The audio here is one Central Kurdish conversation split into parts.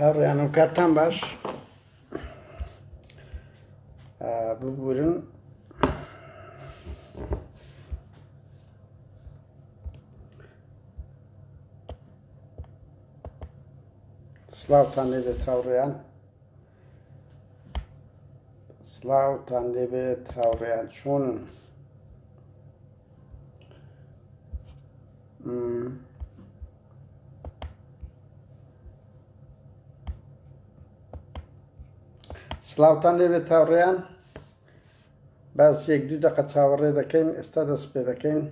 هەڕیانم کاتان باش ببورن سلااوان لێ دەێت هاوڕێیان سلااوان لێبێت هاوڕێیان چۆنن سلااوان لێبێت تاوڕێیان باس یەک دوو دەقە چاوەڕێ دەکەین ئێستا دەست پێ دەکەین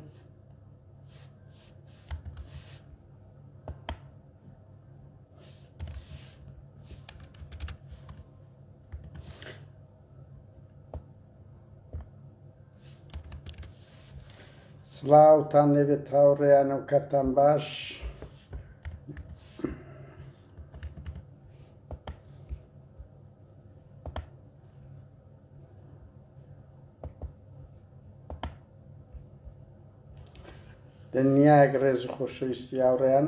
سڵاوتان لێبێت هاوڕێیانە و کاتان باش دنیاک ڕێز و خۆشەویستی هاوڕێیان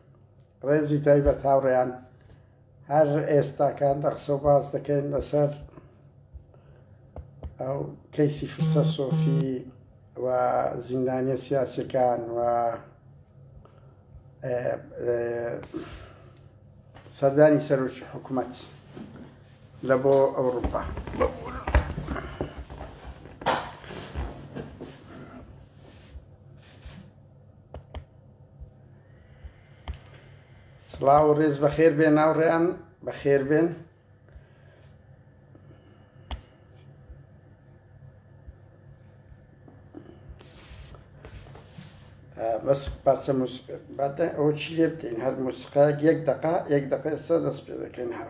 ڕێزی تایبەت هاوڕێیان هەر ئێستا کاندە قسە و باس دەکەین لەسەر ئەو کەیسی فرسە سۆفی و زیندانیە سیاسەکان و سەردانی سەرۆکی حکوومەت لە بۆ ئەوروپا سڵاو و ڕێز بەخێر بێن ناوڕێیان بەخێر بێن بەس پارچە باتە ئەوە چی لێ بکەین هەر موسقا یەک دقا یەک دقە ئێستا دەست پێ دەکەین هەر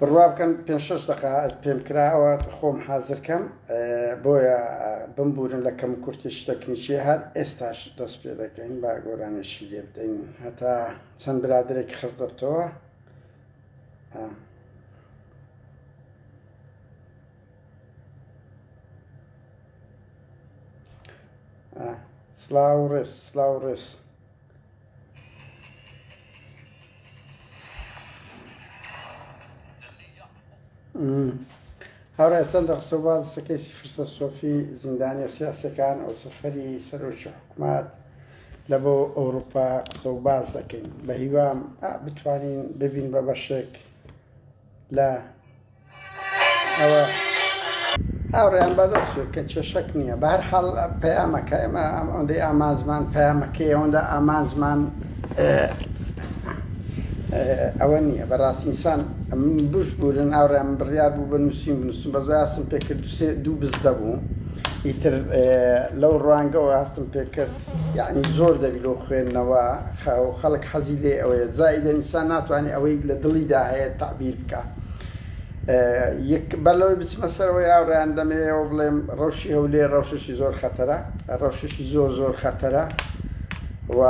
بڕوا بکەن پێنج شەش دەقە پێم کرا ئەوە خۆم حازر کەم بۆیە بمبورن لە کەم کورتی شتەکنیکی هەر ئێستاش دەست پێ دەکەین با گۆرانێکی لێ بدەین هەتا چەند برادێک خڕدەبتەوە سلااو ڕێز سلااو ڕێز هەڕێ سەندە قسە باز سەکەیسی فرسە سۆفی زیندانە سیاسەکان ئەو سەفەری سەرۆکی حکومات لە بۆ ئەوروپا قسە و باز دەکەین بە هیوام بتوانین ببین بە بەشێک لە هاوڕێیان بەدەست بێت کە کێشەک نییە بەهەرحاڵ پەیامەکە ئێمە ئەوەندەی ئامانجمان پەیامەکەی ئەوەندە ئامانجمان ئەوە نییە بەڕاستی ئینسان بشبورن هاوڕێیان من بڕیار بوو بە نووسین بنووسم بە زۆر هەستم پێ کرد دوو بز دەبوو ئیتر لەو ڕوانگەوە هەستم پێ کرد یعنی زۆر دەبی لەو خوێندنەوە خەڵک حەزی لێ ئەوەیە زائیدەن ئینسان ناتوانێت ئەوەی لە دڵیدا هەیە تەعبیر بکا. بەر لەوەی بچمە سەرەوەی هاوڕێیان دەمەوێ ئەوە بڵێم ڕەوشی هەولێر ڕەوشێکی زۆر خەتەرە ڕەوشێکی زۆر زۆر خەتەرە و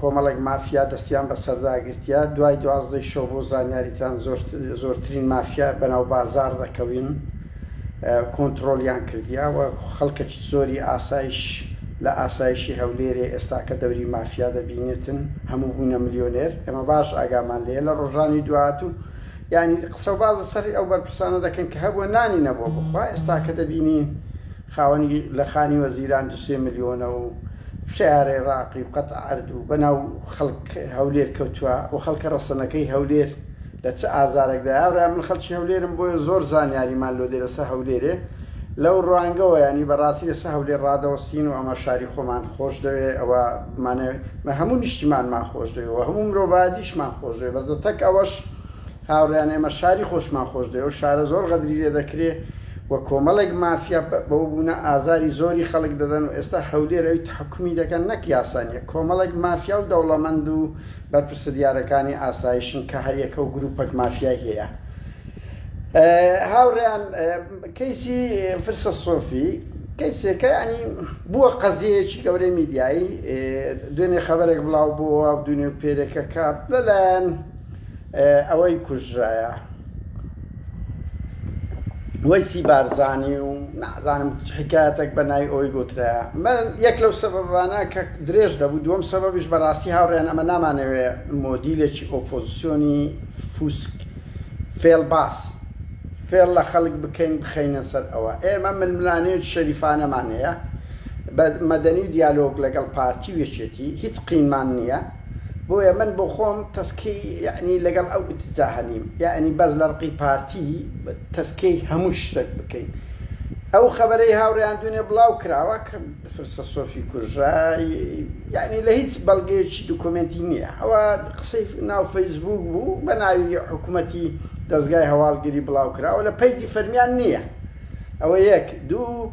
کۆمەڵێک مافیا دەستیان بەسەردا گرتیە دوای دوازدەی شەو بۆ زانیاریتان زۆرترین مافیا بەناو بازاڕ دەکەوین کۆنتڕۆڵیان کردیاوە خەڵکەکی زۆری ئاسایش لە ئاسایشی هەولێرێ ئێستاکە دەوری مافیا دەبینێتن هەموو بوونە ملیۆنێر ئێمە باش ئاگامان لێیە لە ڕۆژانی دواهاتوو یانی قسە و باز لەسەر ئەو بەرپرسانە دەکەن کە هەبووە نانی نەبووە بخوا ئێستاکە دەبینین خاوەنی لە خانی وەزیران دو سێ ملیۆنە و سیارەی ڕاقی و قەت عەرد و بەناو خەڵک هەولێر کەوتووە و خەڵکە ڕەسەنەکەی هەولێر لە چ ئازارەکدایە هاوڕێیان من خەڵکی هەولێرم بۆیە زۆر زانیاریمان لۆ دێ لەسە هەولێرێ لەو ڕوانگەوە یانی بەڕاستی لەسە هەولێر ڕادەوەستین و ئەمە شاری خۆمان خۆش دەوێ ئەوە بمانەوێ مە هەموو نیشتیمانمان خۆش دەوێ و هەموو مرۆڤایەتیشمان خۆش دەوێ بەس لەتەک ئەوەش هاوڕێیان ئێمە شاری خۆشمان خۆش دەوێ ئەو شارە زۆر غەدری لێ دەکرێ و کۆمەڵێک مافیا بەوە بوونە ئازاری زۆری خەڵک دەدەن و ئێستا هەولێر ئەوی تەحەکومی دەکەن نەک یاسا نیە کۆمەڵێک مافیا و دەوڵەمەند و بەرپرسدیارەکانی ئاسایشن کە هەریەکەو گروپەک مافیای هەیە هاوڕێیان کەیسی فرسە سۆفی کەیسێکە ینی بووە قەزیەیەکی گەورەی میدیایی دوێنێ خەبەرێک بڵاو بۆەوە دونێ و پێرێکەکە لەلایەن ئەوەی کوژرایە وەیسی بارزانی و نازانم حکایەتێک بە نای ئەوی گوترا من یەک لەو سەبەبانە کە درێژ دەبوو دووەم سەبەبیش بەڕاستی هاوڕێن ئەمە نامانەوێ مۆدیلێکی ئۆپۆزیسیۆنی فوسک فێڵ باس فێڵ لە خەڵک بکەین بخەینە سەر ئەوە ئێمە ململانێت شەریفانەمان هەیە بە مەدەنی و دیالۆگ لەگەڵ پارتی و یەکێتی هیچ قینمان نییە بۆیە من بۆ خۆم تەسکی یەعنی لەگەڵ ئەو ئیتجاهە نیم یەعنی بەس لە ڕقی پارتی تەسکی هەموو شتەک بکەین ئەو خەبەرەی هاوڕێیان دونێ بڵاو کراوە کە فرسە سۆفی کوژرا یەعنی لە هیچ بەڵگەیەکی دوکۆمێنتی نییە ئەوە قسەی ناو فەیسبووک بوو بە ناوی حکوومەتی دەزگای هەواڵگری بڵاو کراوە لە پەیجی فەرمیان نییە ئەوە یەک دوو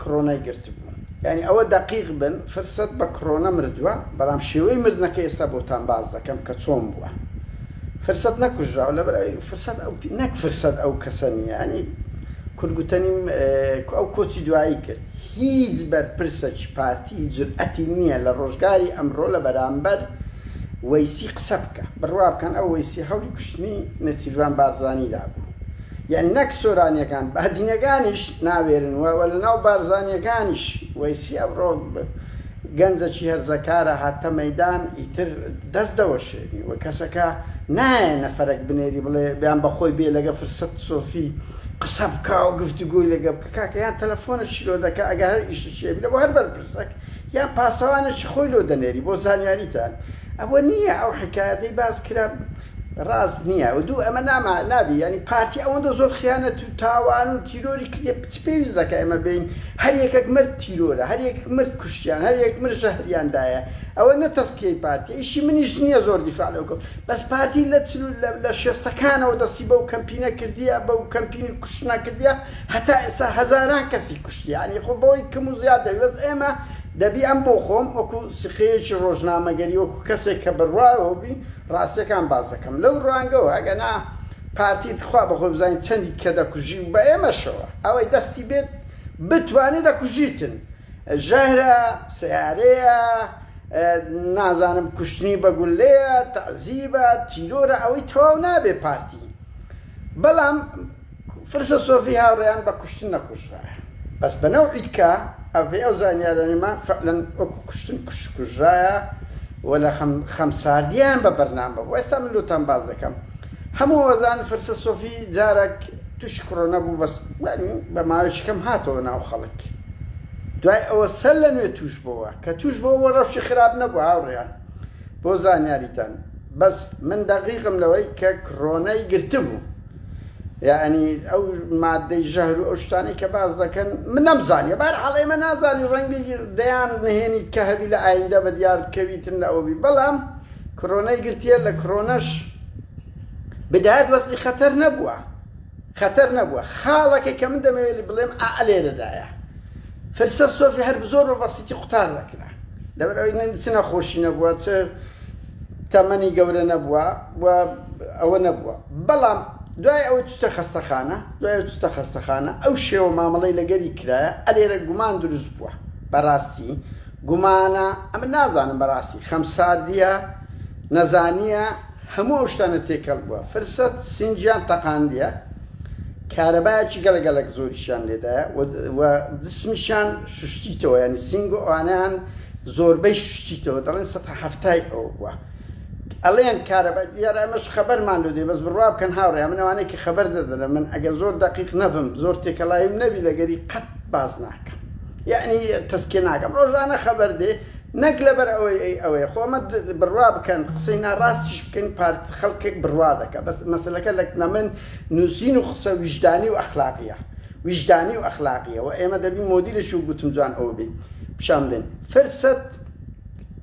کڕۆنای گرتبوو یانی ئەوە دەقیق بن فرسەت بە کڕۆنە مردوە بەڵام شێوەی مردنەکەی ئێستا بۆتان باس دەکەم کە چۆن بوە فرسەت نەکوژراوە لەبەر ئەوەی فرسەت ئەو نەک فرسەت ئەو کەسە نیە یانی کورد گوتەنیم ئەو کۆچی دوایی کرد هیچ بەرپرسەکی پارتی جورئەتی نیە لە ڕۆژگاری ئەمڕۆ لە بەرامبەر وەیسی قسە بکا بڕوا بکەن ئەو وەیسی هەوڵی کوشتنی نێچیرڤان بارزانی دابوو یان نەک سۆرانیەکان بادینەکانیش ناوێرن و وە لەناو بارزانیەکانیش وەیسی ئەمڕۆ گەنجەکی هەرزەکارە هاتە مەیدان ئیتر دەست دەوەشێنی و کەسەکە نایە نەفەرەک بنێری بڵێ یان بەخۆی بێ لەگە فرسەت سۆفی قسە بکا و گفتوگۆی لەگە بکە کاکە یان تەلەفۆنەکی لۆ دەکا ئەگەر هەر ئیشەکی هەبی لە بۆ هەر بەرپرسەک یان پاسەوانەکی خۆی لۆ دەنێری بۆ زانیاریتان ئەوە نیە ئەو حیکایەتەی باس کرا ڕاست نیە و دوو ئەمە ناما نابی یانی پارتی ئەوەندە زۆر خیانەت و تاوان و تیرۆری کردیە چ پێویست دەکا ئێمە بێین هەر یەکەک مرد تیرۆرە هەر یەکەک مرد کوشتیان هەر یەکەک مرد ژەهریان دایە ئەوە نە تەسکیەی پارتیە ئیشی منیش نیە زۆر دیفاع لەو کەم بەس پارتی لە چل و لە شێستەکانەوە دەستی بەو کەمپینە کردیە بەو کەمپینی کوشتنە کردیە هەتا ئێستا هەزاران کەسی کوشتیە یانی خۆ بەوەی کەم و زیاد دەبی بەس ئێمە دەبی ئەم بۆ خۆم وەکو سقەیەکی ڕۆژنامەگەری وەکو کەسێک کە بڕوایەوە بی ڕاستیەکان باس دەکەم لەو ڕوانگەوە ئەگەنا پارتی تخوا بەخۆی بزانیت چەندی کە دەکوژی و بە ئێمەشەوە ئەوەی دەستی بێت بتوانی دەکوژیتن ژەهرە سەیارەیە نازانم کوشتنی بە گولەیە تەعزیبە تیرۆرە ئەوەی تەواو نابێت پارتی بەڵام فرسە سۆفی هاوریان بە کوشتن نەکوژرایە بەس بە نەوعی تکا ئە بەی ئەو زانیارانیمان فەعلەن وەکو کوشتن کوش کوژرایە و لە خەم خەم ساردیان بە بەرنامە بوو ئێستا من لۆتان باس دەکەم هەموو ئەزانن فرسە سۆفی جارەک توشی کڕۆنە بوو بەس یانی بە ماوەیەکی کەم هاتەوە ناو خەڵک دوای ئەوە سەر لە نوێ توش بۆوە کە توش بۆوە ڕەوشی خراپ نەبوو هاوریان بۆ زانیاریتان بەس من دەقیقم لەوەی کە کڕۆنەی گرتبوو. یەعنی ئەو مادەی ژەهر و ئەو شتانەی کە باس دەکەن من نەمزانیە بار حاڵ ئێمە نازانی ڕەنگی دەیان نهێنی کە هەبی لە ئایندە بە دیار بکەویتن لە ئەوبی بەڵام کڕۆنەی گرتیە لە کڕۆنەش بدایەت وەزی خەتەر نەبووە خەتەر نەبووە خاڵەکەی کە من دەمەوێت بڵێم ئەلێرەدایە فرسە سۆفی هەر بزۆر بە بەسیتی قوتار دەکرا لەبەر ئەوی نەچ نەخۆشی نەبووە چ تەمەنی گەورە نەبووە و ئەوە نەبووە بەڵام دوای ئەوەی چووتە خەستەخانە دوای ئەوەی چووتە خەستەخانە ئەو شێوە مامەڵەی لەگەری کرایە لێرە گومان دروست بووە بەڕاستی گومانە ئەمن نازانم بەڕاستی خەمساردییە نەزانییە هەموو ئەو شتانە تێکەڵ بووە فرسەت سینگیان تەقاندییە کارەبایەکی گەڵە گەڵەک زۆریشیان لێدایە و جسمیشان شوشتیتەوە یانی سینگ و ئەوانەیان زۆربەی شوشتیتەوە دەڵێن سەتا حەفتای ئەوە بووە ئەڵێن کارەبا دیارە ئەمەش خەبەرمان لۆ دێ بەس بڕوا بکەن هاوڕێ من ئەوانەی کە خەبەر دەدەنە من ئەگەر زۆر دەقیق نەبم زۆر تێکەڵاویم نەبی لەگەری قەت باس ناکەم یانی تەسکێ ناکەم ڕۆژانە خەبەر دێ نەک لەبەر ئەوەی ئەی ئەوەیە خۆ ئەمە بڕوا بکەن قسەی ناڕاستیش بکەین پارت خەڵکێک بڕوا دەکە بەس مەسەلەکە لە نەمن نووسین و قسە ویژدانی و ئەخلاقیە ویژدانی و ئەخلاقیە و ئێمە دەبین مۆدیلش و گوتم جوان ئەوە بین پیشان بدەین فرسەت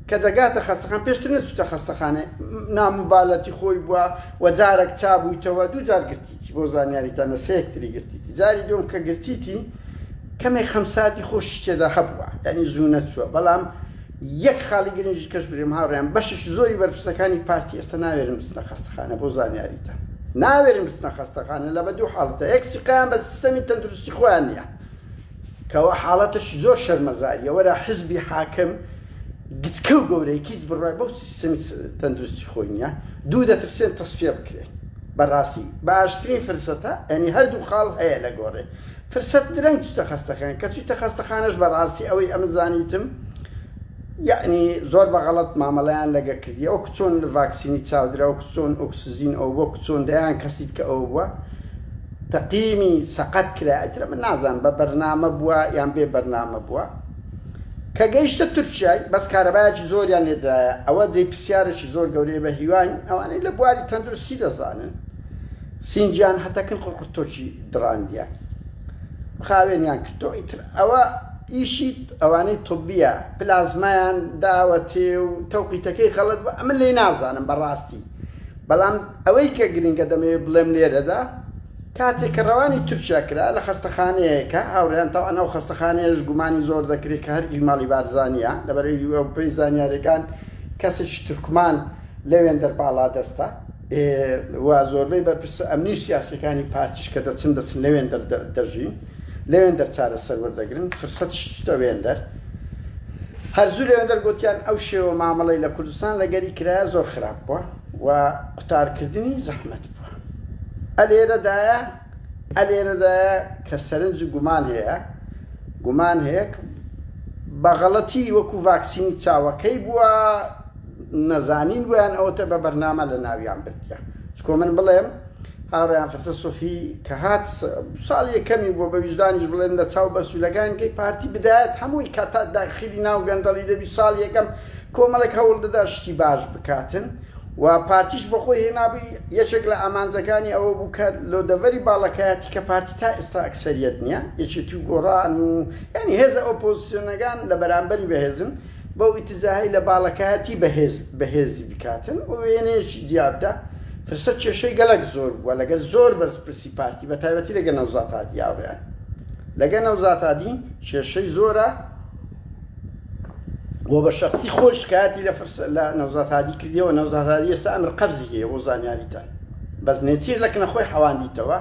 کە دەگاتە خەستەخان پێشتر نەچووتە خەستەخانە ناموبالەتی خۆی بووە و جارێک چابوویتەوە دوو جار گرتی. گرتیتی بۆ زانیاری تا نە سێک تری گرتیتی جاری دوم کە گرتیتی کەمێک خەم ساردی خۆشی تێدا هەبووە یعنی زوو نەچووە بەڵام یەک خاڵی گرنگی کەش برێم هاوڕێیان بەشیش زۆری بەرپرسەکانی پارتی ئێستا ناوێرن بچنە خەستەخانە بۆ زانیاریتە ناوێرن بچنە خەستەخانە لە بە دوو حاڵەتە یەک سیقەیان بە سیستەمی تەندروستی خۆیان نییە کوا حاڵەتەکی زۆر شەرمەزاریە وەرە حزبی حاکم گچکەو گەورەی کیچ بڕای بەو سیستەمی تەندروستی خۆی نیە دوو دەترسێن تەسفیە بکرێن بەڕاستی باشترین فرسەتە ئەنی هەردوو خاڵ هەیە لە گۆڕێ فرسەت درەنگ چتە خەستەخان کە چیتە خەستەخانەش بەڕاستی ئەوەی ئەمزانیتم یەعنی زۆر بە غەڵەت مامەڵەیان لەگە کردیە وەکو چۆن ڤاکسینی چاودرا وەکو چۆن ئۆکسزین ئەو وەکو چۆن دەیان کەسیت کە ئەوە بووە تەقیمی سەقەت کرا ئەترە من نازان بە بەرنامە بووە یان بێ بەرنامە بووە کە گەیشتە تورکیای بەس کارەبایەکی زۆریان لێدایە ئەوە جێی پرسیارێکی زۆر گەورەیە بە هیواین ئەوانەی لە بواری تەندروستی دەزانن سینگیان هەتەکن قڕقرتۆکی دڕاندیان خاوێنیان کردەوە ئیتر ئەوە ئیشیت ئەوانەی طبیە پلازمایان داوەتێ و تەوقیتەکەی غەڵەت بوە ئەمە لێی نازانم بەڕاستی بەڵام ئەوەی کە گرنگە دەمەوێ بڵێم لێرەدا کاتێ کە ڕەوانی تورکیا کرا لە خەستەخانەیەکە هاوڕێیان تاوان ئەو خەستەخانەیەش گومانی زۆر دەکرێ کە هەر ئیماڵی بارزانیە لەبەرەی ئەو پێی زانیارەکان کەسێکی تورکمان لەوێندەر باڵا دەستە ئێ وە زۆربەی بەرپرسە ئەمنی و سیاسیەکانی پارتیش کە دەچن دەچن لەوێندەر دەژین. لەوێندەر چارەسەر وەردەگرن، فرسەتش چوتە وێندەر، هەر زوو لەوێندەر گۆتیان ئەو شێوە مامەڵەی لە کوردستان لەگەری کرایە زۆر خراپ بوە و قوتارکردنی زەحمەت بوە. ئەلێرەدایە ئەلێرەدایە کە سەرنج و گومان هەیە، گومان هەیە ک بەغەڵەتی وەکو ڤاکسینی چاوەکەی بوە نەزانین ویان ئەوەتە بە بەرنامە لەناویان بردیە چکۆ من بڵێم، هاوڕێیان فەسە سۆفی کە هات ساڵ یەکەمی بووە بە ویژدانیش بڵێن لە چاو بەسوولەکانکەی پارتی بدایەت هەمووی کە تا داخلی ناو گەندەڵی دەبی ساڵ یەکەم کۆمەڵێک هەوڵ دەدا شتی باش بکاتن و پارتیش بەخۆی هێنابووی یەکێک لە ئامانجەکانی ئەوە بوو کە لۆ دەڤەری باڵەکایەتی کە پارتی تا ئێستا ئەکسەریەت نییە یەکێتی و گۆڕان و یانی هێزە ئۆپۆزسیۆنەکان لە بەرامبەری بەهێزن بەو ئیتزاهەی لە باڵەکایەتی بەهێز بەهێزی بکاتن و وێنەیەکی دیابدا فرسەت کێشەی گەلەک زۆر بووە لەگەر زۆر بەرزپرسی پارتی بە تایبەتی لەگەر نەوزات هادی یاوریان لەگەر نەوزات هادی کێشەی زۆرە و بە شخصی خۆی شکایەتی لە فرس لە نەوزات هادی کردیەوە نەوزات هادی ئێستا ئەمر قەبزی هەیە بۆ زانیاریتان بەس نێچیر لە کنە خۆی حەواندیتەوە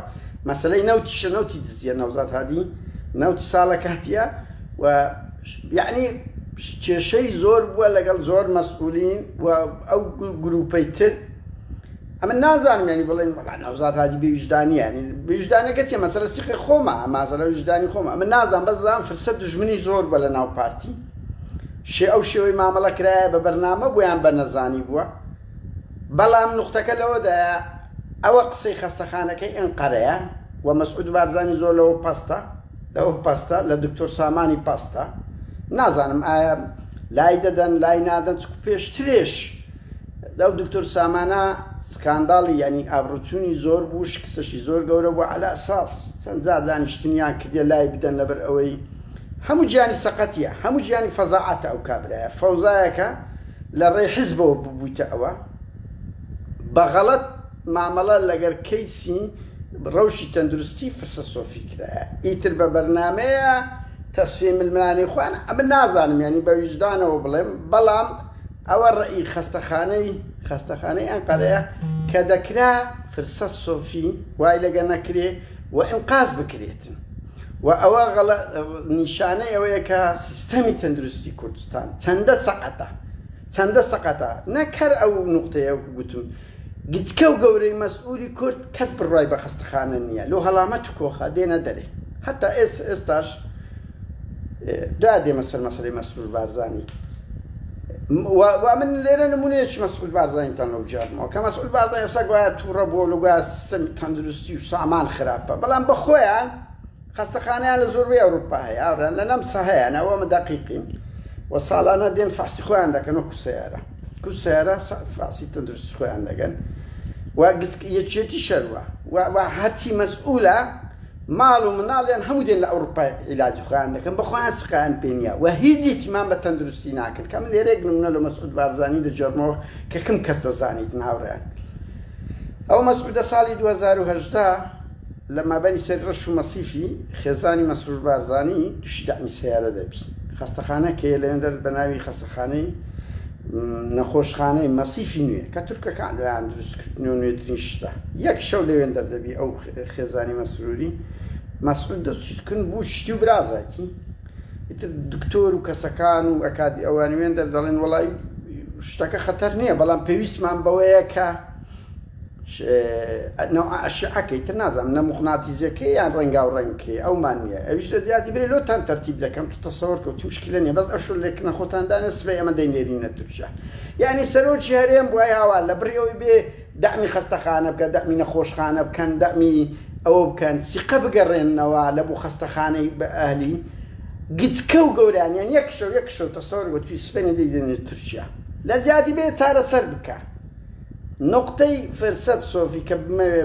مەسلەی نەوتیشە نەوتی دزیە نەوزات هادی نەوتی ساڵە کاتیە و یەعنی کێشەی زۆر بووە لەگەڵ زۆر مەسئولین و ئەو گروپەی تر ئەمن نازانم یەعنی بڵێن وەڵا نەوزاد هادی بێ ویژدانیە یەعنی ویژدانەکە چیە مەسەلە سیقی خۆمە مازەلە ویژدانی خۆمە ئەمن نازانم بەس زان فرسە دوژمنی زۆر بە لە ناو پارتی شێ ئەو شێوەی مامەڵە کرایە بە بەرنامە بۆ یان بە نەزانی بووە بەڵام نوختەکە لەوەدایە ئەوە قسەی خەستەخانەکەی ئەنقەرەیە و مەسعود بارزانی زۆر لەوە پەستە لەوک پەستە لە دکتۆر سامانی پەستە نازانم ئایا لای دەدەن لای نادەن چکو پێشترێش لەو دکتۆر سامانە سکانداڵی ینی ئابروچوونی زۆر بوو شکستەشی زۆر گەورە بوو علا ساس چەند جار دانیشتنیان کردە لای بدەن لەبەر ئەوەی هەموو گیانی سەقەتیە هەموو گیانی فەزاعاتە ئەو کابرایە فەوزایەکە لە ڕێی حزبەوە ببوویتە ئەوە بەغەڵەت مامەڵە لەگەر کەیسی رەوشی تەندروستی فرسە سۆفی کرایە ئیتر بە بەرنامەیە تەسفیەی ململانێی خۆیان ئەمن نازانم یانی بە ویژدانەوە بڵێم بەڵام ئەوە رەئی خەستەخانەی خەستەخانەی ئەنقەرەیە کە دەکرا فرسە سۆفی وای لەگە نەکرێ و ئینقاز بکرێتن و ئەوە غەڵە نیشانەی ئەوەیە کە سیستەمی تەندروستی کوردستان چەندە سەقەتە چەندە سەقەتە نەک هەر ئەو نوقتەیە وەکو گوتم گچکە و گەورەی مەسئولی کورد کەس بڕوای بە خەستەخانە نیە لۆ هەڵامەت و کۆخە دێنە دەرێ هەتا ئێس ئێستاش دا دێمە سەر مەسەلەی مەسرور بارزانی و و من لێرە نمونەیەکی مەسعود بارزانیتان لەو جارمەوە کە مەسعود بارزان ئێستا گوایە تووڕە بووە لە گویا سم تەندروستی و سامان خراپە بەڵام بە خۆیان خەستەخانەیان لە زۆربەی ئەوروپا هەیە ئاوران لە نەمسا هەیە ناوە من دەقیقیم و ساڵانە دێن فەحسی خۆیان دەکەن وەکو سیارە کو سیارە فەحسی تەندروستی خۆیان دەگەن و گسک یەکێتی شەروە و هەرچی مەسئولە ماڵ و مناڵیان هەموو دێن لە ئەوروپای عیلاجی خۆیان دەکەن بە خۆیان سقیان پێ نییە و هیچ یەکیمان بە تەندروستی ناکەن کە من لێرە یەک نمونە لە مەسعود بارزانی دەگێڕمەوە کە کم کەس دەزانیت هاوڕێیان ئەو مەسعودە ساڵی 2018 لە مابەینی سەر رەش و مەسیفی خێزانی مەسرور بارزانی توشی دەعمی سەیارە دەبی خەستەخانەک هەیە لەوێندەر بە ناوی خەستەخانەی نەخۆشخانەی مەسیفی نوێ کە تورکەکان لۆیان دروست کردنی و نوێترین شتە یەک شەو لەوێندەر دەبی ئەو خێزانی مەسروری مەسعود دەچکن بوو شتی و برازاکی ئیتر دکتۆر و کەسەکان و ئەکادی ئەوانوێن دەردەڵێن وڵی شتەکە خەتەر نییە بەڵام پێویستمان بەوەیە کە نوع اشعه کەی تر نازانم نە مقناطیزە کەی یان ڕەنگاو ڕەنگ کەی ئەومان نیە ئەویش لە زیادی برێ لۆتان تەرتیب دەکەم تو تەسەور کە تو شکلە نیە بەس ئەشو لەکنە خۆتان دانێ سبەی ئەمە دەی نێرینە تورکیا یانی سەرۆکی هەرێم بوای هاوار لە بڕی ئەوی بێ دەعمی خەستەخانە بکە دەعمی نەخۆشخانە بکەن دەعمی ئەوە بکەن سیقە بگەڕێننەوە لە بو خەستەخانەی بە ئەهلی گچکە و گەوران یان یەک شەو یەک شەو تەسەور وە توی سبەینێ دەی دەنێ تورکیا لە زیادی بێ چارەسەر بکە. نوقتەی فرسەت سۆفی کە بمەوێ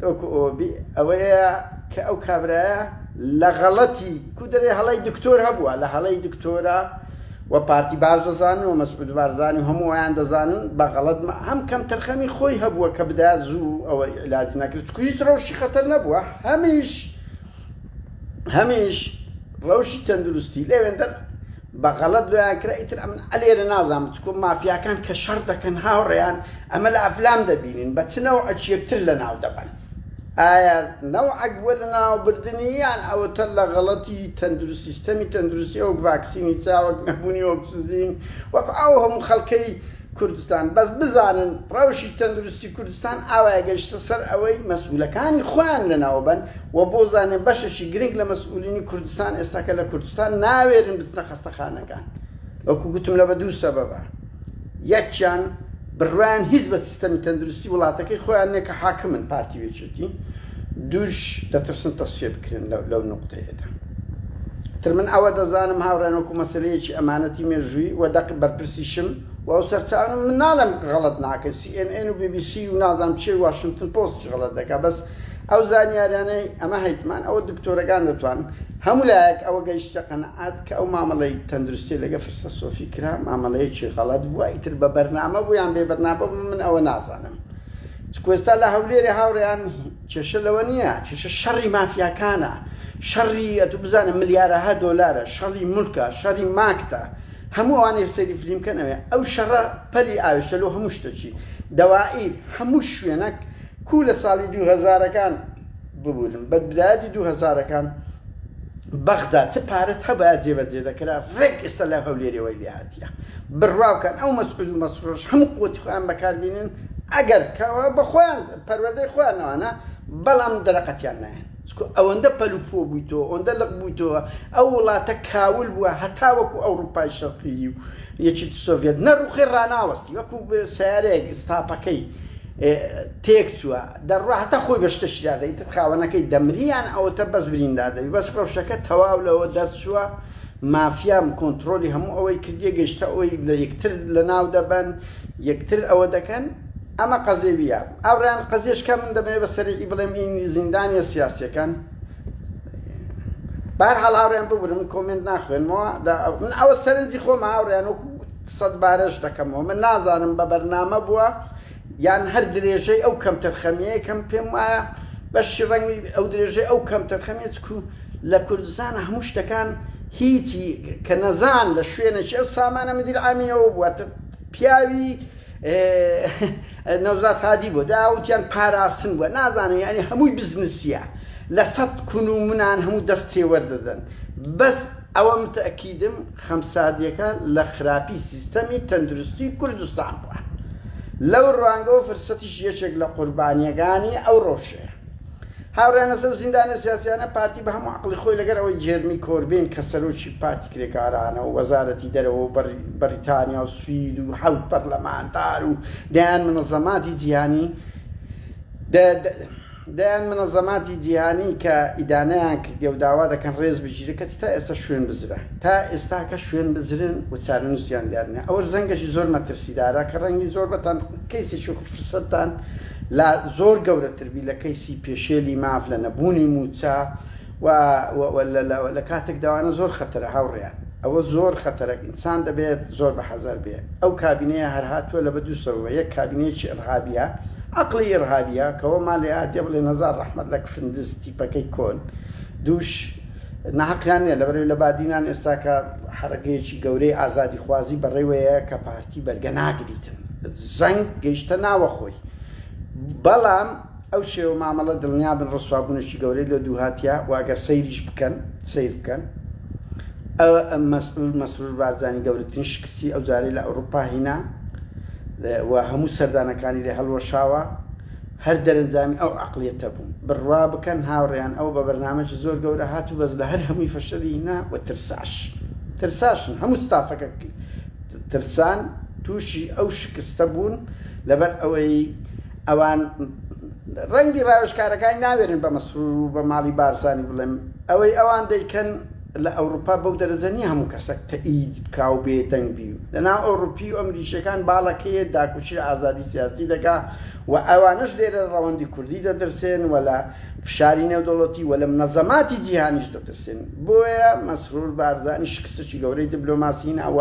وەکو ئەوە بی ئەوەیە کە ئەو کابرایە لە غەڵەتی کو دەرێ هەڵەی دکتۆر هەبووە لە هەڵەی دکتۆرە و پارتی باش دەزانن و مەسعود بارزانی هەموو ئەویان دەزانن بە غەڵەت هەم کەمتەرخەمی خۆی هەبووە کە بدا زوو ئەوە علاج نەکرد چکو هیچ ڕەوشی خەتەر نەبووە هەمیش هەمیش ڕەوشی تەندروستی لەوێندەر بە غەڵەت لۆیان کرا ئیتر ئەمن ئەلێرە نازانم چکۆ مافیاکان کە شەڕ دەکەن هاوڕێیان ئەمە لە ئەفلام دەبینین بە چ نەوعەک یەکتر لە ناو دەبەن ئایا نەوعەک بووە لە ناو بردنی یان ئەوەتە لە غەڵەتی تەندروست سیستەمی تەندروستی وەک ڤاکسینی چاوەک نەبوونی ئۆکسجین وەک ئەو هەموو خەڵکەی کوردستان بەس بزانن ڕەوشی تەندروستی کوردستان ئاوایە گەشتە سەر ئەوەی مەسئولەکانی خۆیان لەناوبەن و بوزانێن بەشێکی گرنگ لە مەسئولینی کوردستان ئێستاکە لە کوردستان ناوێرن بچنە خەستەخانەکان وەکو گوتم لە بە دوو سەبەبە یەکیان بڕوایان هیچ بە سیستەمی تەندروستی وڵاتەکەی خۆیان نیە کە حاکمن پارتی ویەکێتی دووش دەترسن تەسفیە بکرێن لەو نوقتەیەدا. تر من ئەوە دەزانم هاوڕێیان وەکو مەسەلەیەکی ئەمانەتی مێژوویی وە دەق بەرپرسیشم وە ئەو سەرچاوانە من نالێم غەڵەت ناکەن سی ئێن ئێن و بی بی سی و نازانم چێ واشنتن پۆستیش غەڵەت دەکا بەس ئەو زانیاریانەی ئەمە هەیتمان ئەوە دکتۆرەکان دەتوانن هەموو لایەک ئەوە گەیشتە قەناعەت کە ئەو مامەڵەی تەندروستی لەگە فرسە سۆفی کرا مامەڵەیەکی غەڵەت بووە ئیتر بە بەرنامە بوو یان بێ بەرنامە بوو من ئەوە نازانم چکو ئێستا لە هەولێرێ هاوڕێیان کێشە لەوە نیە کێشە شەڕی مافیاکانە شەڕی ئەتو بزانە ملیارەها دۆلارە شەڕی مولکە شەڕی ماکتە هەموو ئەوانەی سەیری فلیم بکەن ئەوێ ئەو شەڕە پەلی ئاوێشتە لۆ هەموو شتەکی دەوائیر هەموو شوێنەک کوو لە ساڵی دوو هەزارەکان ببورن بە بدایەتی دوو هەزارەکان بەغدا چ پارەت هەبایە جێبەجێ دەکرا ڕێک ئێستا لە هەولێرێوەی لێ هات. دا. بڕوا بکەن ئەو مەسعود و مەسرورەش هەموو قوتی خۆیان بەکار بینن ئەگەر کەوا بە خۆیان پەروەردەی خۆیان ئەوانە بەڵام دەرەقەتیان نایەن چکو ئەوەندە پەل و پۆ بویتەوە ئەوەندە لق بویتەوە ئەو وڵاتە کاول بوە هەتا وەکو ئەوڕوپای شەرقیی و یەکێتی سۆڤیەت نەڕوخێ ڕاناوەستی وەکو سەیارەیەک ئیستاپەکەی تێک چوە دەڕوا هەتا خۆی بە شتەکی دادە ئیتر خاوەنەکەی دەمری یان ئەوەتە بەس بریندار دەبی بەس ڕەوشەکە تەواو لەوە دەرچوە مافیام کۆنترۆلی هەموو ئەوەی کردیە گەشتە ئەوەی لە یەکتر لەناو دەبەن یەکتر ئەوە دەکەن ئەمە قەزێویە ئاوڕیان قەزێش کە من دەمەوێت بە سەریعی بڵێم ئین زیندانیە سیاسیەکان بار هەڵ ئاوڕیان ببرم کۆمنت ناخوێنمەوە من ئەوە سەرنجی خۆم ئاوڕیان وەکو سەد بارەش دەکەمەوە من نازانم بە بەرنامە بووە یان هەر درێژەی ئەو کەمتەرخەمییەیە کە من پێم وایە بەشی ڕەنگی ئەو درێژەی ئەو کەمتەرخەمییە چکو لە کوردستان هەموو شتەکان هیچی کە نەزان لە شوێنێکی ئەو سامانە مدیر عامی ئەوە بووە تە پیاوی نەوزاد هادی بۆ دا وتیان پاراستن بووە نازانن یانی هەمووی بزنسیە لە سەد کون و منان هەموو دەست تێوەر دەدەن بەس ئەوەم تەئکیدم خەمساردیەکە لە خراپی سیستەمی تەندروستی کوردستان بوە لەو روانگەوە فرسەتیش یەکێک لە قوربانیەگانی ئەو رەوشەیە هاورێیانە سەو زیندانە سیاسیانە پارتی بە هەموو عەقڵی خۆی لەگەر ئەوەی جێرمی کۆربین کە سەرۆکی پارتی کرێکارانەو وەزارەتی دەرەوەو بەریتانیاو سوید و حەوت پەرلەمانتارو دەیان منەزەماتی جیهانی دەیان منەزەماتی جیهانی کە ئیدانەیان کردیە و داوا دەکەن رێز بگیرێ کەچی تا ئێستا شوێن بزرە تا ئێستاکە شوێن بزرن و چارەنوسیان دیار نیە ئەوەش زەنگەکی زۆر مەترسیدارە کە رەنگی زۆر بەتان کەیسێکی وەکو فرسەتتان لا زۆر گەورەتر بی لە کەیسی پێشێلی ماف لە نەبوونی موچە وا وا وا لە لە لە کاتێک دا وانە زۆر خەتەرە هاوڕێیان ئەوە زۆر خەتەرە ئینسان دەبێت زۆر بە حەزەر بێ ئەو کابینەیە هەر هاتووە لە بە دوو سەبەبە یەک کابینەیەکی ئڕهابیە عەقڵی ئڕهابیە کە وە مان لێ ئاتێ بڵێن هەزار ڕەحمەت لە کفندز تیپەکەی کۆن دووش ناحەقیان نیە لەبەر ئەوی لە بادینان ئێستاکە حەرەکەیەکی گەورەی ئازادی خوازی بە ڕێوەیە کە پارتی بەرگە ناگریتن زەنگ گەیشتە ناوەخۆی بەڵام ئەو شێوە مامەڵە دڵنیابن ڕسوابونێکی گەورەی لۆ دووهاتیە و ئەگەر سەیریش بکەن سەیر بکەن ئەوە مەسرور مەسرور بارزانی گەورەترین شکستی ئەو جارەی لە ئەوروپا هینا و هەموو سەردانەکانی لێ هەڵوەشاوە هەر دەرەنجامی ئەو عەقڵیەتە بوو بڕوا بکەن هاوڕێیان ئەو بە بەرنامەکی زۆر گەورە هات و بەس لە هەر هەمووی فەشەلی هینا و ترساش ترساشن هەموو ستافەکە ترسان تووشی ئەو شکستە بوون لەبەر ئەوەی ئەوان ڕەنگی ڕاوێژکارەکانی ناوێرن بە مەسرور و بە ماڵی بارزانی بڵێن، ئەوەی ئەوان دەیکەن لە ئەوروپا بەو دەرەجە نیە هەموو کەسەک تەئید بکا و بێدەنگ بی و لە ناو ئەوروپی و ئەمریکیەکان باڵەکەیە داکوکی لە ئازادی سیاسی دەکا و ئەوانەش لێرە ڕەوەندی کوردی دەترسێن و لە فشاری نێودەوڵەتی و لە منەزەماتی جیهانیش دەترسێن بۆیە مەسرور بارزانی شکستەکی گەورەی دبلۆماسی هینا و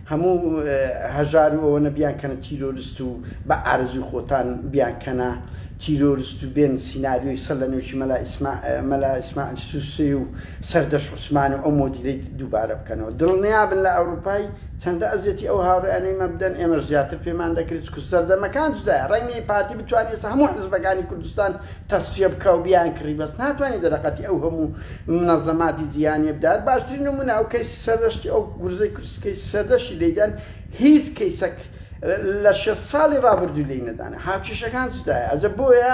هەموو هەژار و ئەوەنە بیانکەنە تیرۆرست و بە ئارەزوی خۆتان بیانکەنە تیرۆرست و بێن سیناریۆی سەر لە نۆکی مەلا ئیسما مەلا ئیسماعیل سوسێ و سەردەشت عوسمان و ئەو مۆدیلەی دووبارە بکەنەوە دڵنیابن لە ئەوروپای چەندە ئەزیەتی ئەو هاوڕێیانەی مە بدەن ئێمەش زیاتر پێمان دەکرێت چکو سەردەمەکان جودایە ڕەنگە پارتی بتوانێت ئێستا هەموو حزبەکانی کوردستان تەسفیە بکا و بیانکڕی بەس ناتوانێت دەرەقەتی ئەو هەموو منەزەماتی جیهانیە بدات باشترین نمونە ئەو کەیسی سەردەشتی ئەو گورزەی سکەی سەردەشتی لێیدەن هیچ کەیسەک لە شەست ساڵی ڕابردوو لێی نەدانە هاوکێشەکان جودایە ئەجە بۆیە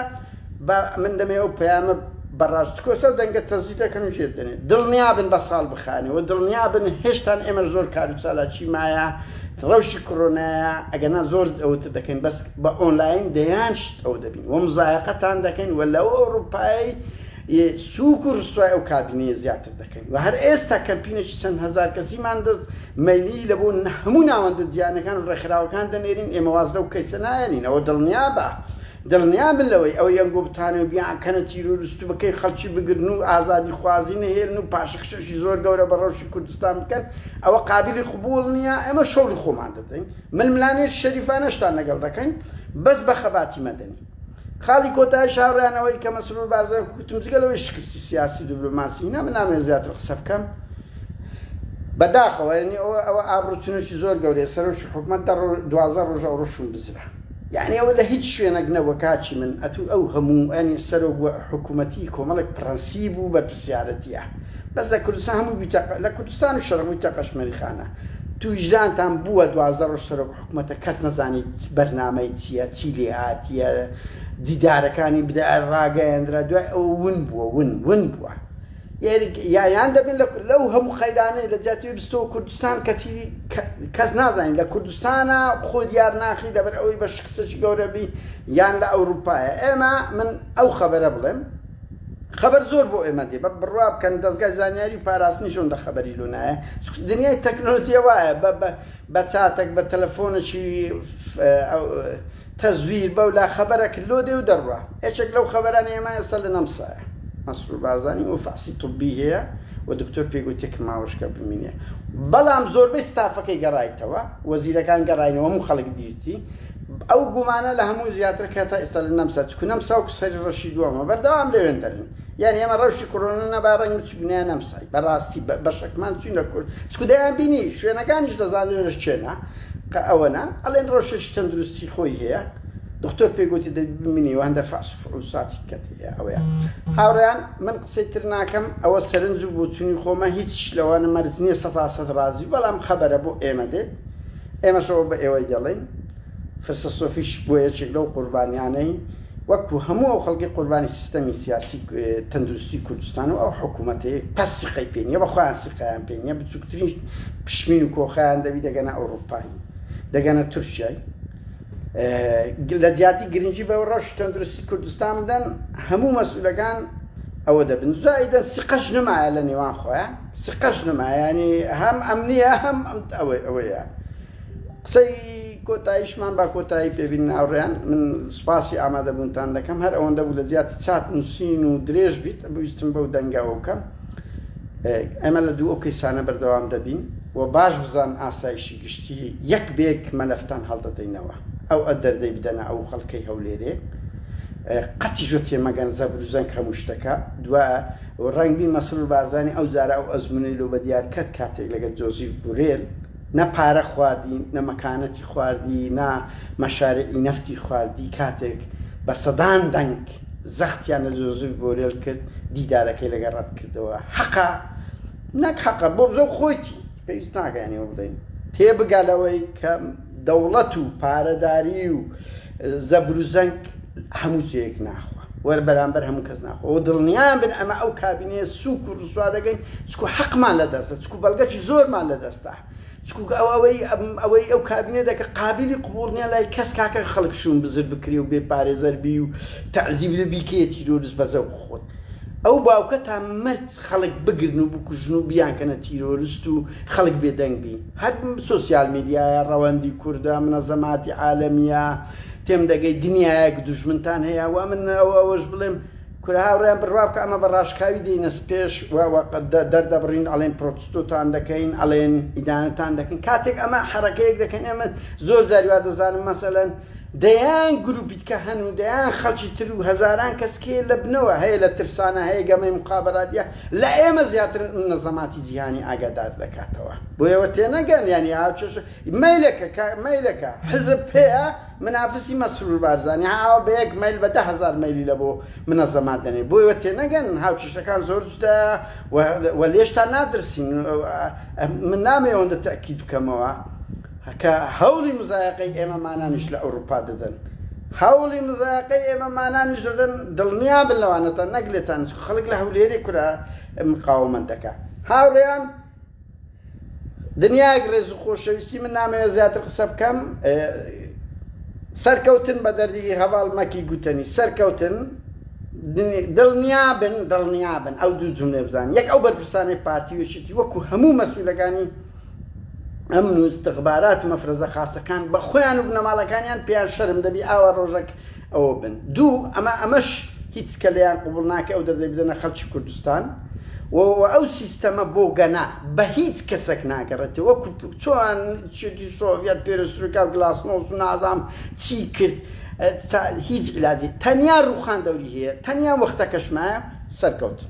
بە من دەمێ ئەو پەیامە بە ڕاست تکۆسە و دەنگە تەزوی دەکەن و ژێر دەنێ دڵنیابن بە ساڵ بخانێ وە دڵنیابن هێشتان ئێمەش زۆر کار و چالاکی مایە ڕەوشی کڕۆنایە ئەگەنا زۆر ئەوتر دەکەین بەس بە ئۆنلاین دەیان شت ئەو دەبین وە مزایەقەتان دەکەین وە لەو ئەوڕوپایەی ی سووک و ڕسوای ئەو کابینەیە زیاتر دەکەین و هەر ئێستا کەمپینێکی چەند هەزار کەسیمان دەست مەیلی لە بۆ هەموو ناوەندە جیهانیەکان و ڕێکخراوەکان دەنێرین، ئێمە واز لەو کەیسە ناهێنینەوە دڵنیابە دڵنیابن لەوەی ئەو یەنگو بتانەی و بیانکەنە تیرۆرست و بە کەی خەڵکی بگرن و ئازادی خوازی نەهێلن و پاشەکشەکی زۆر گەورە بە ڕەوشی کوردستان بکەن ئەوە قابیلی قبوڵ نیە، ئێمە شەوڵی خۆمان دەدەین ململانێکی شەریفانەشتان لەگەڵ دەکەین بەس بە خەباتی مەدەنی. خاڵی کۆتایی شاوڕیان ئەوەی کە مەسرور بارزانی کوتم جگە لەوەی شکستی سیاسی دبلۆماسی هینا من نامەوێت زیاتر قسە بکەم بەداخەوە یعنی ئەوە ئەوە ئابڕوچنوکی زۆر گەورەیە سەرۆکی حکومەت دوازە ڕۆژە ئەو ڕۆشون بزرا یعنی ئەوە لە هیچ شوێنێک نەبووە کاچی من ئەتوو ئەو هەموو ئەنی سەرۆک و حکوومەتی کۆمەڵێک پرەنسیب و بەرپسیارەتە بەس لە کوردستان هەموو بیتە لە کوردستان و شەرمووی تەقەشمەری خانە توویژدانتان بووە دوازە ڕۆژ سەرۆک حکومەتە کەس نەزانی چ بەرنامەی چیە چی لێهاتیە دیدارەکانی بدە ڕاگەیەندرا دوای ئەوە ون بووە ون ون بووە یان دەبن لەو هەموو قەیرانەی لە جیاتی بستەوە کوردستان کەچی کەس نازانین لە کوردستانە خۆ دیار ناخی لەبەر ئەوەی بە شکستەی گەورەبی یان لە ئەوروپایە ئێمە من ئەو خەبەرە بڵێم خەبەر زۆر بۆ ئێمە دێ بە بڕوا بکەن دەستگای زانیاری پاراستنی شۆن دە خەبەری لۆنایە دنیای تەکنۆلۆژیە وایە بە بە چاتەک بە تەلەفۆنەکی تەزویر بەولا خەبەرەکت لۆ دێ و دەروا یەکێک لەو خەبەرانەی ئەما ئێستا لە نەمسایە مەسرور بارزانی و فەحسی طبی هەیە و دکتۆر پێی گۆتیە کە ماوەشکە بمینێ بەڵام زۆربەی ستافەکەی گەڕایتەوە وەزیرەکان گەڕاینەوە هەموو خەڵک دیتی ئەو گومانە لە هەموو زیاترە کە هەتا ئێستا لە نەمسا چکو نەمسا و کسەری ڕەشی دووەمە بەردەوام لەوێندەرن. یانی ئەمە ڕەوشی کۆرۆنە نەبا ڕەنگ بچوک نەیا نەمسای بەڕاستی بەشەکمان چوینە کورد چکو دەیان بینی شوێنەکانیش دەزانرێش چێنا قە ئەوەنە ئەڵێن ڕەوشێکی تەندروستی خۆی هەیە دختۆر پێ گۆتی دەبی بمینی و هەندە فەحس و فحوساتی کەت هەیە ئەوەیە هاوڕێیان من قسەی تر ناکەم ئەوە سەرنج و بۆچونی خۆمە هیچیش لەوانە مەرج نیە سەتا سەت ڕازی بەڵام خەبەرە بۆ ئێمە دێت ئێمەش ئەوە بە ئێوەی دەڵێین فرسە سۆفیش بوە یەکێک لەو قوربانیانەی وەکو هەموو ئەو خەڵکەی قوربانی سیستەمی سیاسی تەندروستی کوردستان و ئەو حکومەتەی تا سیقەی پێ نیە بە خۆیان سیقەیان پێ نیە بچوکترین پشمین و کۆخەیان دەبی دەگەنە ئەوروپایی دەگەنە تورکیای لە جیاتی گرنگی بە ڕەش تەندروستی کوردستان بدەن هەموو مەسئولەکان ئەوە دەبن زایدە سیقەش نمایە لە نێوان خۆیان سیقەش نمایانی هەم ئەم نیە هەم ئەوەی ئەوەیە قسەی کۆتایشمان با کۆتایی پێ بینن هاوڕێیان من سوپاسی ئامادە بوونتان دەکەم هەر ئەوەندە بوو لە جیاتی چات نووسین و درێژ بیت بویستم بەو دەنگەوە بکەم ئێمە لە دوو ئەو کەیسانە بەردەوام دەبین و باش بزان ئاسایشی گشتی یەک بێک مەلەفتان هەڵدەدەینەوە ئەو ئە دەردەی بدەنە ئەو خەڵکەی هەولێرێ قەتی ژۆ تێمەگەن زەبر و زەنگ هەموو شتەکە دوا ڕەنگبی مەسرور بارزانانی ئەو جارە ئەو ئەزمونەی لۆ بەدیار کەت کاتێک لەگەت جۆزیف بورێل نە پارە خواردی نە مەکانەتی خواردی نا مەشارعی نەفتی خواردی کاتێک بە سەدان دەنگ زەختیان لە جۆزف بۆرێل کرد دیدارەکەی لەگەڵ ڕەت کردەوە حەقە نەک حەقە بۆ بزۆ خۆیتی پێویست ناکە یانی وە بڵێین تێبگە لەوەی کە دەوڵەت و پارەداری و زەبروزەنگ هەموو جێیەک ناخوا وەر بەرامبەر هەموو کەس ناخۆ و دڵنیان بن ئەمە ئەو کابینەیە سوک و ڕسوا دەگەین چکو حەقمان لە دەستە چکو بەڵگەکی زۆرمان لە دەستە چکوک ئەو ئەوەی ئەوەی ئەو کابینە دەکە قابلی قوبوڵ نیە لای کەس کاکە خەڵک شوم بزر بکرێ و بێ پارێزەر بی و تەعزیب لە بیکەیە تیرۆرست بە زەوق خۆت ئەو باوکە تا مرد خەڵک بگرن و بکوژن و بیانکەنە تیرۆرست و خەڵک بێدەنگ بین هەر سۆسیال میدیایە ڕەوەندی کوردە منەزەماتی عالەمیە تێم دەگەی دنیایەک دوژمنتان هەیە وا من ئەوەش بڵێم کورە هاوڕێیان بڕوا بکە ئەمە بە ڕاشکاوی دێینە پێش و دەردەبڕین ئەڵێن پرۆتستۆتان دەکەین ئەڵێن ئیدانەتان دەکەین کاتێک ئەمە حەرەکەیەک دەکەن ئێمە زۆر جاری وا دەزانم مەسەلەن دەیان گروپی دیکە هەن و دەیان خەڵکی تر و هەزاران کەس کێ لە بنەوە هەیە لە ترسانە هەیە گەمەی مقابراتە لە ئێمە زیاتر منەزەماتی جیهانی ئاگادار دەکاتەوە بۆیەوە تێنەگەن یانی ئاو چێشە مەیلەکە کە مەیلەکە حزب پێیە منافسی مەسرور بارزانی ها ئاوا بەیەک مەیل بە دە هەزار مەیلی لە بۆ منەزەمات دەنێ بۆی وە تێنەگەن هاوکیشەکان زۆر جودایە وە وە لێشتان نادرسین من نامەوێ ئەوەندە تەئکید بکەمەوە کە هەولی مزایەقەی ئێمە مانانیش لە ئەوروپا دەدەن هەولی مزایەقەی ئێمە مانانیش دەدەن دڵنیابن لەوانەتان نەک لێتان چکو خەلک لە هەولێرێ کورە مقاومەت دەکا هاوڕێیان دنیایەک ڕێز و خۆشەویستی من نامەوێت زیاتر قسە بکەم سەرکەوتن بە دەردی هەواڵ مەکی گوتەنی سەرکەوتن دڵنیابن دڵنیابن ئەو دوو جملێ بزان یەک ئەو بەرپرسانی پارتی وشتی وەکو هەموو مەسئولەکانی ئەم نوستخبارات و مەفرەزە خاستەکان بە خۆیان و بنەماڵەکانیان پێیان شەرم دەبی ئاوا ڕۆژەک ئەوە بن دوو ئەمە ئەمەش هیچ کە لێیان قبوڵ ناکە ئەو دەردەی بدەنە خەڵکی کوردستان و وە ئەو سیستەمە بۆگەنە بە هیچ کەسەک ناگەڕێتەوە وەکو چۆن چێتی سۆڤیەت پێرسترویکا و گلاسنۆس و نازام چی کرد هیچ عیلاجی تەنیا ڕووخان دەوری هەیە تەنیا وەختەکەش مایە سەرکەوتن.